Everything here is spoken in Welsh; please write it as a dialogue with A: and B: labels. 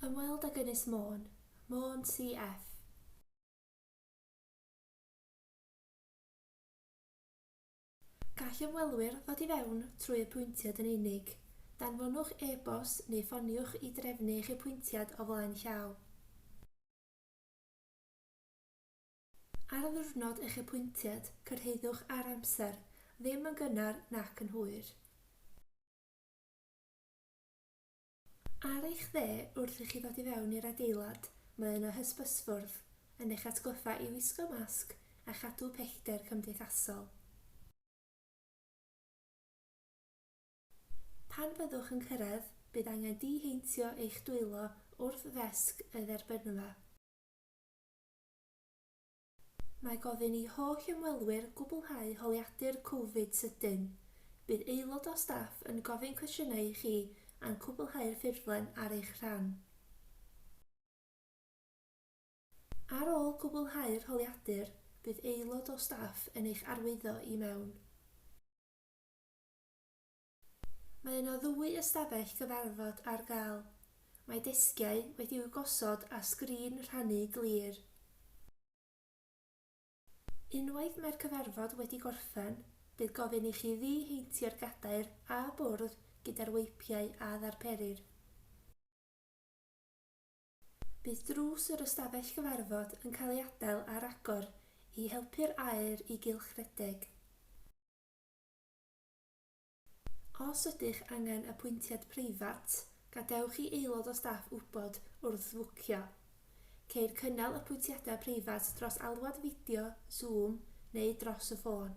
A: Ymweld ag Ynys Môn, Môn CF. Gall ymwelwyr ddod i fewn trwy apwyntiad yn unig. Danfonwch e-bost neu ffoniwch i drefnu eich apwyntiad o flaen llaw. Ar ddiwrnod eich apwyntiad, cyrhaeddwch ar amser, ddim yn gynnar nac yn hwyr. Ar eich dde, wrth i chi ddod i fewn i'r adeilad, mae yna hysbysfwrdd, yn eich atgoffa i wisgo masg a chadw pellter cymdeithasol. Pan fyddwch yn cyrraedd, bydd angen diheintio eich dwylo wrth ddesg y dderbynfa. Mae gofyn i holl ymwelwyr gwblhau holiadur Covid sydyn. Bydd aelod o staff yn gofyn cwestiynau i chi a'n cwblhau'r ffurflen ar eich rhan. Ar ôl cwblhau'r holiadur, bydd aelod o staff yn eich arwyddo i mewn. Mae yna ddwy ystafell gyfarfod ar gael. Mae desgiau wedi'u gosod a sgrin rhannu glir. Unwaith mae'r cyfarfod wedi gorffen, bydd gofyn i chi ddi-heintio'r gadair a bwrdd gyda'r weipiau a ddarperir. Bydd drws yr ystafell gyfarfod yn cael ei adael ar agor i helpu'r aer i gylchredeg. Os ydych angen apwyntiad preifat, gadewch i aelod o staff wybod wrth fwcio. Ceir cynnal apwyntiadau preifat dros alwad fideo, Zoom, neu dros y ffôn.